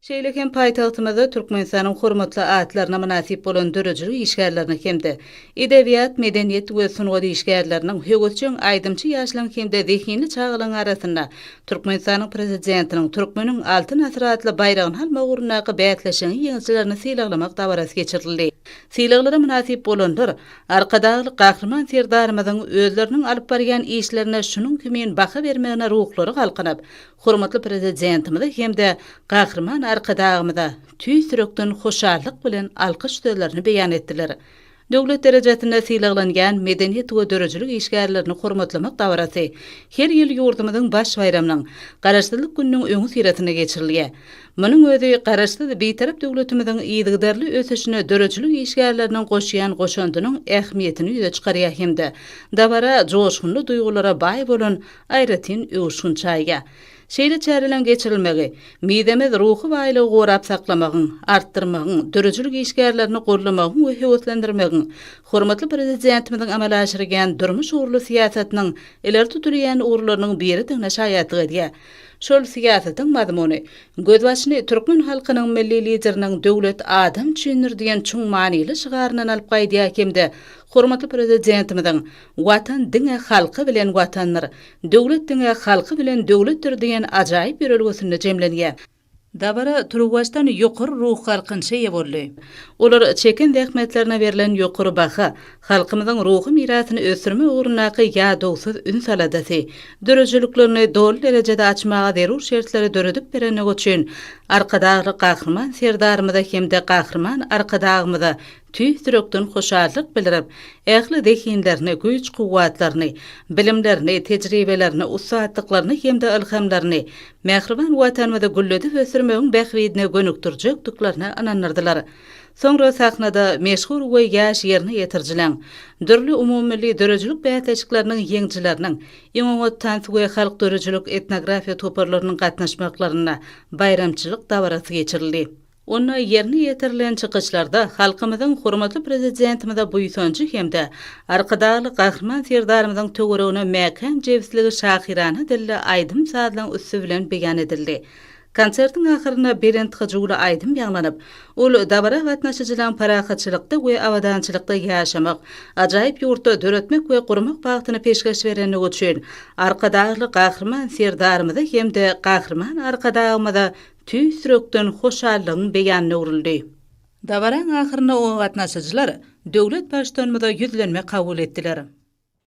Şeýle hem paýtagtymyzda Türkmenistanyň hormatly atlaryna mynasyp bolan döredijilik işgärleriniň hem-de edebiýat, medeniýet we sungat işgärleriniň, höwesjeň aýdymçy ýaşlaryň hem-de zehinli çagalaryň arasynda Türkmenistanyň Prezidentiniň Türkmeniň Altyn asyry atly baýragyny almak ugrundaky bäsleşigiň ýeňijilerini sylaglamak dabarasy geçirildi. Sylaglara mynasyp bolanlar Arkadagly Gahryman Serdarymyzyň özleriniň alyp barýan işlerine şunuň kimin baha bermegine ruhlary galkynyp, Hormatly Prezidentimize hem-de Gahryman Arkadagymyza tüýs ýürekden hoşallyk bilen alkyş sözlerini beýan etdiler. Döwlet derejesinde sylaglanýan medeniýet we döredijilik işgärlerini hormatlamak dabarasy her ýyl ýurdumyzyň baş baýramynyň, Garaşsyzlyk gününiň öňüsyrasynda geçirilýär. Munuň özi Garaşsyz, Bitarap döwletimiziň yzygiderli ösüşine döredijilik işgärleriniň goşýan goşandynyň ähmiýetini ýüze çykarýar hem-de dabara joşgunly duýgulara baý bolan aýratyn öwüşgin çaýýar. Şeýle çäreleriň geçirilmegi, mizemez ruhy baýlygy gorap saklamagyň, artdyrmagyň, döredijilik işgärlerini goldamagyň we höweslendirmegiň, hormatly Prezidentimiziň amala aşyrýan durmuş ugurly syýasatynyň ileri tutulýan ugurlarynyň biridigine şaýatlyk edýär. Şol syýasatyň mazmuny, gözbaşyny türkmen halkynyň Milli Lideriniň Döwlet adam üçindir! diýen çuň manyly şygaryndan alyp gaýdýar hem-de hormatly Prezidentimiziň Watan diňe halky bilen Watandyr, döwlet diňe halky bilen döwletdir diýen ajaýyp ýörelgesinde jemlenýär. Dabara turuwbaşdan ýokary ruhgalkynça eýe boldy. Olar çeken zähmetlerine berlen ýokary baha, halkymyzyň ruhy mirasyny ösdürmek ugrundaky ýadawsyz üns-aladasy, döredijiliklerini doly derejede açmaga zerur şertleri döredip berendigi üçin Arkadagly Gahryman Serdarymyza hem-de Gahryman Arkadagymyza tüýs ýürekden hoşallyk bildirip, ähli zehinlerini, güýç-kuwwatlaryny, bilimlerini, tejribelerini, ussatlyklaryny hem-de ylhamlaryny mähriban Watanymyzy gülledip ösdürmegiň bähbidine gönükdirjekdiklerine ynandyrdylar. Soňra sahnada meşhur we ýaş ýerine ýetirijileň, dürli umumymilli döredijilik bäsleşikleriniň ýeňijileriniň, iň oňat tans we halk döredijilik-etnografiýa toparlarynyň gatnaşmaklarynda baýramçylyk dabarasy geçirildi. Onda ýerine ýetirilen çykyşlarda halkymyzyň hormatly Prezidentimize buýsanjy hem-de Arkadagly Gahryman Serdarymyzyň töweregine mäkäm jebisligi şahyrana dilli aýdym-sazlaň üsti bilen beýan edildi. Konsertiň ahyrynda belent hyjuwly aýdym ýaňlanyp, ol dabara gatnaşyjylaryň parahatçylykda we abadançylykda ýaşamak, ajaýyp ýurtda döretmek we gurmak bagtyny peşgeş berendigi üçin Arkadagly Gahryman Serdarymyza hem-de Gahryman Arkadagymyza Tüýs ýürekden hoşallygyň beýanyna öwrüldi. Dabaraň ahyrynda oňa gatnaşyjylar Döwlet Baştutanymyza ýüzlenme kabul etdiler.